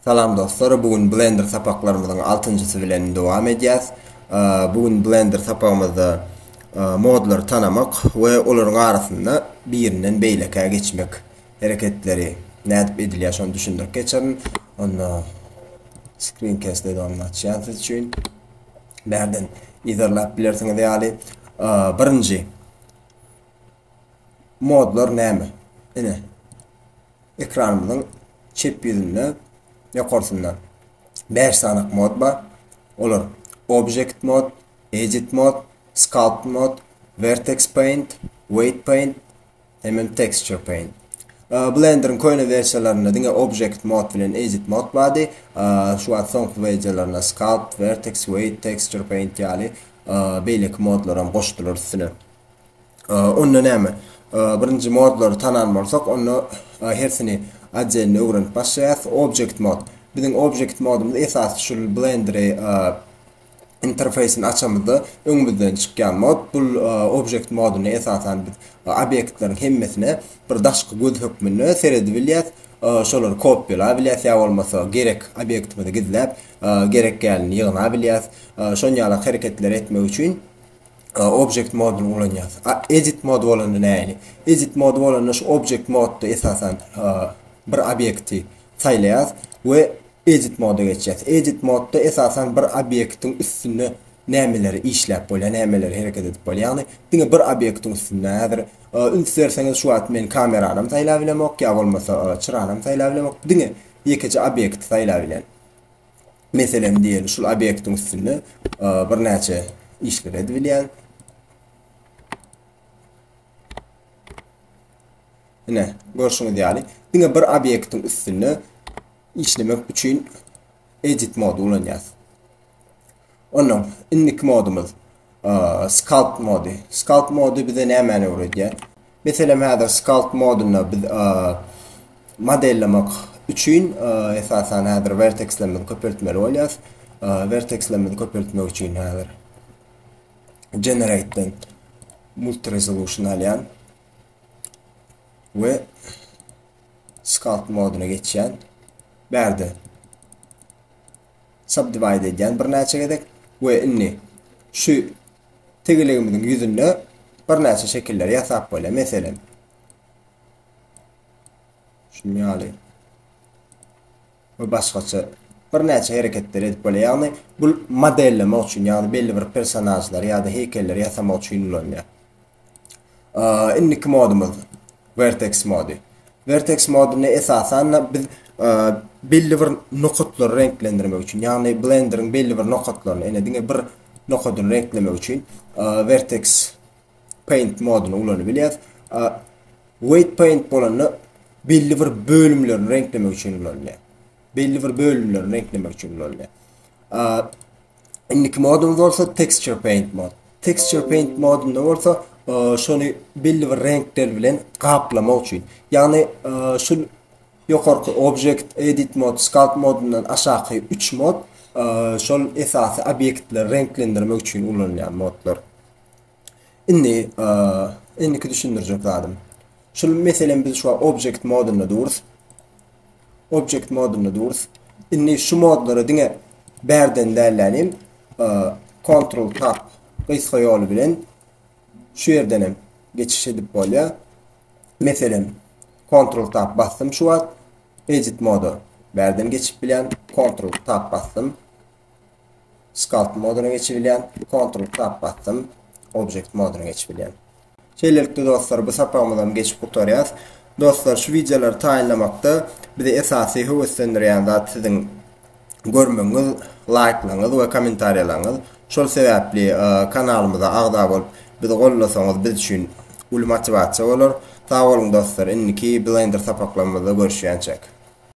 Salam dostlar bu gün blender sapaklarymyzyň altynjysy bilen dowam edýäs. Bu gün blender sapagymyzda modlary tanamak we olaryň arasynda birinden beýlekä geçmek hereketleri nädip edilýär şony düşündirip geçerin. Onda screen cast edogny açýan siz üçin. Bärden izerläp bilersiňiz ýaly. Birinji modlar näme? Ine Ekranymyzyň çep ýüzünde ýokarsynda bäş sany mod bar. Olar Object Mode, Edit Mode, Sculpt Mode, Vertex Paint, Weight Paint hemem Texture Paint. Blenderiň köne wersiýalarynda diňe Object Mode bilen Edit Mode bardy. Şu wagt soňky wersiýalarynda Sculpt, Vertex, Weight, Texture Paint ýaly beýleki modlaram goşdular üstüne. Onda näme? Birinji modlary tanan bolsak, onda hersini otdelni öwrenip başlaýas. Object mod. Biziň object modumyz esasy şu Blender-i interfeýsini açamyzda öňümizden çykýan mod. Bu object moduny esasan biz obýektleriň hemmesine bir daşky göz hökmünde seredip bilýäs. Şolary kopýalap bilýäs ýa bolmasa gerek obýektimizi gizläp, gerek ýalyny ýygnap bilýäs. Şon ýalak hereketleri etmek üçin Object moduny ulanýas. A edit mod bolanda nähili? Edit mod bolanda şu object modda esasan bir obýekti saýlaýas we edit moda geçýäs. Edit modda esasan bir obýektiň üstünde nämeleri işläp bolýar, nämeleri hereket edip bolýar. Ýagny diňe bir obýektiň üstünde. Häzir üns berseňiz şu wagt men kameranam saýlap bilemok, ýa bolmasa çyranam saýlap bilemok. Diňe ýekeje obýekti saýlap bilen. Meselem, diýeli, şul obýektiň üstünde birnäçe işleri edibilýär. Ine, görşüňiz ýaly, diňe bir obýektiň üstünde işlemek üçin edit mody ulanýarys. Ondan indiki modumyz sculpt mody. Sculpt mody bize nämäni öwredýär? Meselem häzir Sculpt modunda biz modellemek üçin esasan häzir wertekslerimizi köpeltmeli bolýarys. Wertekslerimizi köpeltmek üçin häzir Generate'den Multi Resolution alýan we Sculpt moduna geçýän. Bärde subdivide edýän birnäçe gezek we indi şu tegelegimiziň ýüzünde birnäçe şekilleri ýasap bolýar. Meselem, şunuň ýaly we başgaça birnäçe hereketleri edip bolýar. Ýagny bu modellemek üçin, ýagny belli bir personažlary ýa-da heýkelleri ýasamak üçin ulanylýar. Indiki modumyz Vertex mody. Vertex modunda esasan biz belli bir nokatlary reňklendirmek üçin, ýagny Blender-iň belli bir nokatlaryny, ene diňe bir nokadyny reňklemek üçin Vertex Paint moduny ulanyp bilýäs. Weight Paint bolanda belli bir bölümlerini reňklemek üçin ulanylýar. Belli bir bölümlerini reňklemek üçin ulanylýar. Indiki modumyz bolsa Texture Paint mod. Texture Paint modunda bolsa e, şony belli bir reňkler bilen gaplamak üçin. Ýagny e, şu ýokarky Object Edit mod, Sculpt modundan aşaky 3 mod e, şol esasy obýektleri reňklendirmek üçin ulanylýan modlar. Indi indiki düşündirjek zadym. Şul meselem biz şu object modunda durus. Object modunda durus. Indi şu modlara diňe bärden dällänim Ctrl Tab gysga ýoly bilen şu ýerden hem geçiş edip bolýar. Meselem Ctrl Tab basdym şu wagt edit moda bärden geçip bilýän Ctrl Tab basdym. Sculpt modyna geçip bilýän. Ctrl Tab basdym. Object modyna geçip bilýän. Şeýlelikde dostlar, bu sapagymyzam geçip gutarýas. Dostlar, şu wideolary taýynlamakda bizi esasy höweslendirýän zat siziň görmegiňiz, laýklaryňyz we kommentariýalaryňyz. Şol sebäpli kanalymyza agza bolup, bizi gollasaňyz biz üçin uly motiwasiýa bolar. Sag boluň dostlar, indiki Blender sapaklarymyzda görüşýänçäk.